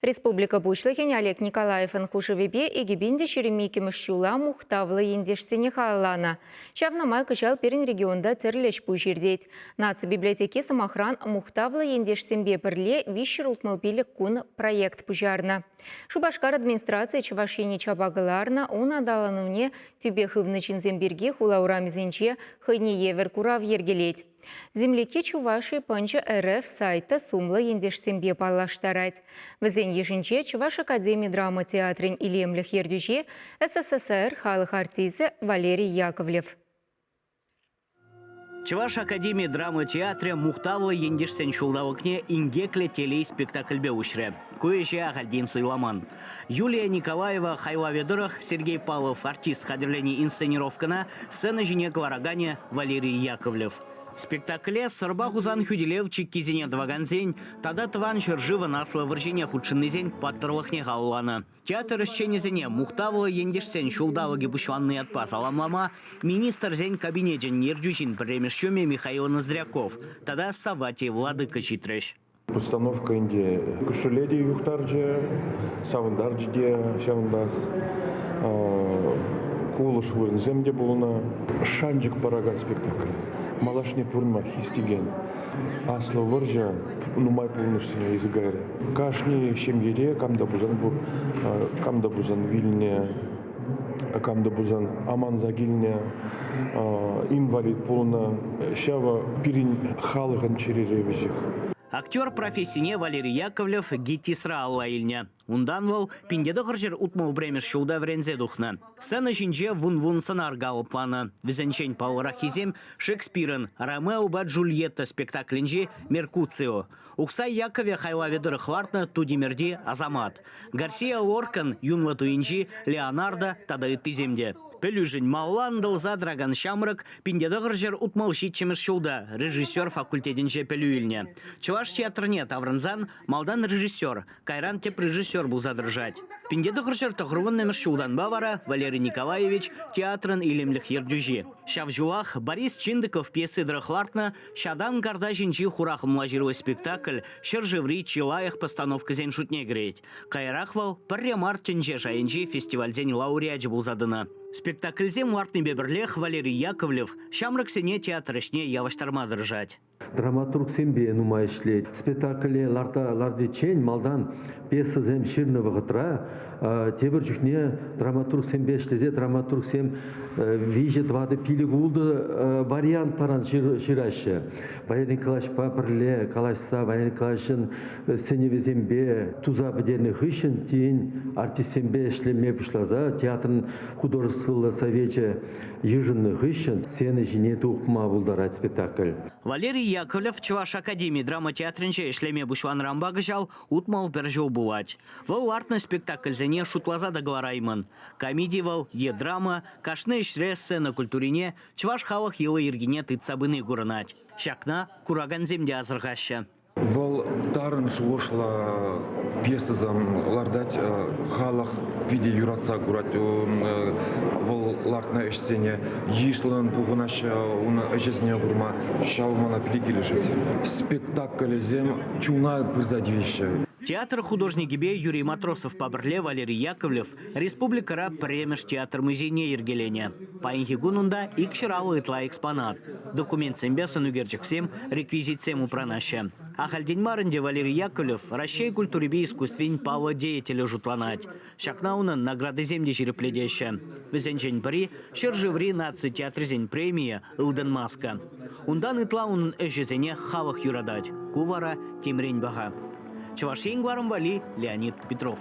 Республика Пуҫлӑхӗн Олег Николаевӑн хушӑвӗпе Эгипенте ҫирӗм иккӗмӗш ҫула мухтавлӑ ентешсене халалланӑ. Ҫавна май кӑҫал пирӗн регионта тӗрлӗ ӗҫ-пуҫ иртет. Наци библиотеки, сӑмахран, мухтавлӑ ентешсемпе пӗрле виҫҫӗр утмӑл пилӗк кун проект пуҫарнӑ. Шупашкар администрацийӗ Чӑваш Ене чапа кӑларнӑ, ун аталанӑвне тӳпе хывнӑ ҫынсем пирки хула урамӗсенче хӑйне евӗр курав йӗркелет. Землики Чувашии пӑнчӑ РФ сайта сумлӑ ентешсемпе паллаштарать. Вӗсен йышӗнче Чӑваш академи драма театрӗн илемлӗх ертӳҫи, СССР халӑх артисчӗ Валерий Яковлев. Чӑваш академи драма театрӗ мухтавлӑ ентешсен ҫулталӑкне инкеклӗ телей спектакльпе уҫрӗ. Ку ӗҫе ахальтен суйламан. Юлия Николаева хайлавӗ тӑрӑх Сергей Павлов артист хатӗрленӗ инсценировкӑна сцена ҫине кӑлараканӗ Валерий Яковлев. Спектакле Сӑрпа Хусан хӳтӗлев чиккисене тӑвакансен тата Тӑван ҫӗршывӑн Аслӑ вӑрҫине хутшӑннисен паттӑрлӑхне халалланӑ. Театр ӗҫченӗсене мухтавлӑ ентешсен ҫулталӑкӗ пуҫланнӑ ятпа саламлама Министрсен Кабинечӗн ертӳҫин пӗрремеш ҫумӗ Михаил Ноздряков тата Савватий Владыка ҫитрӗҫ. Установка ӗнтӗ кӳшӗле те юхтарчӗ, савӑнтарчӗ те ҫавӑнтах. Кулӑш вырӑнсем те пулнӑ. Шанчӑк паракан спектакль. Малашне пурӑнма хистекен Аслӑ вӑрҫӑ нумай пулнӑшсене илсе кайрӗ. Кашни ҫемьере кам та пулсан пур, кам та пулсан вилнӗ кам та пулсан аманса килнӗ, инвалид пулнӑ. Ҫавӑ пирӗн халӑхӑн чӗрери вӗҫӗх. Актер профессине Валерий Яковлев ГИТИСра алла илнӗ. Унтан вӑл пинте тӑхӑрҫӗр утмӑл пӗрремӗш ҫулта вӗренсе тухнӑ. Сцена ҫинче вун-вун сӑнар калӑпланӑ. Вӗсенчен паллӑраххисем Шекспирӑн «Ромео и Джульетта» спектаклӗнчи «Меркуцио». Ухсай Якове хайлавӗ тӑрӑх лартнӑ Тутимӗрти Асамат, Гарсия Оркан юнлӑ туйӗнчи Леонардо тата ыттисем те. Пӗлӳшӗн малла ӑнтӑлса тӑракан ҫамрӑк пинте тӑхӑр ҫӗр утмӑл ҫиччӗмӗш ҫулта режиссер факультетӗнче пӗлӳ илнӗ. Чӑваш театрне таврӑнсан малтан режиссер, кайран тӗп режиссер пулса тӑрӑшать. Пинте тӑхӑр ҫӗр тӑхӑрвуннӑмӗш ҫултанпа вара Валерий Николаевич театрӑн илемлӗх ертӳҫи. Ҫав ҫулах Борис Чиндыков пьеси тӑрӑх лартнӑ Ҫатан карта ҫинчи хурахӑмла ҫыру спектакль ҫӗршыври чи лайӑх постановкӑсен шутне кӗрет. Каярах вӑл пӗрре мар тӗнче шайӗнчи фестивальсен лауреачӗ пулса тӑнӑ. Спектакльсем лартнипе пӗрлех Валерий Яковлев ҫамрӑксене театр ӗҫне явӑҫтарма тӑрӑшать. Драматургсемпе нумай ӗҫлет. Спектакле ларта лартиччен малтан пьесӑсем ҫырнӑ вӑхӑтра тепӗр чухне драматургсемпе ӗҫлесе драматургсем виҫӗ тӑватӑ пилӗк-ултӑ вариант таран ҫыраҫҫӗ. Валерий Николаевичпа пӗрле калаҫса Валерий Николаевичӑн сӗнӗвӗсемпе туса пӗтернӗ хыҫҫӑн тин артистсемпе ӗҫлеме пуҫласа театрӑн художествӑлла совечӗ йышӑннӑ хыҫҫӑн сцена ҫине тухма пултарать спектакль. Валерий Яковлев Чӑваш академи драма театрӗнче ӗҫлеме пуҫланӑранпа кӑҫал Утмал пӗр ҫул пулать. Вӑл лартнӑ спектакльсене шутласа та кӑлараймӑн. Комеди вӑл е драма, кашни ӗҫре сцена культурине, чӑваш халӑх йӑли-йӗркине тытса пыни курӑнать. Ҫакна куракансем те асӑрхаҫҫӗ. Вӑл тарӑн шухӑшлӑ пьесӑсем лартать. Халӑх питӗ юратса курать вӑл лартнӑ ӗҫсене. Йышлӑн пухӑнаҫҫӗ ун ӗҫӗсене курма. Ҫав мана пиле килӗшет. Спектакльсем чуна пырса тивеҫҫӗ. Театр художникӗпе Юрий Матросовпа пӗрле Валерий Яковлев республикӑра пӗрремӗш театр музейне йӗркеленӗ. Паянхи кун унта икҫӗраллӑ ытла экспонат. Документсемпе сӑнӳкерчӗксем, реквизитсем упранаҫҫӗ. Ахальтен мар ӗнтӗ Валерий Яковлев Раҫҫей культурипе искусствин паллӑ деятелӗ шутланать. Ҫакна унӑн наградисем те ҫирӗплетеҫҫӗ. Вӗсенчен пӗри ҫӗршыври наци театрӗсен премийӗ «Ылтӑн маска». Унтан ытла унӑн ӗҫӗсене халӑх юратать. Ку вара темрен паха. Чӑваш Ен кӑларӑм валли Леонид Петров.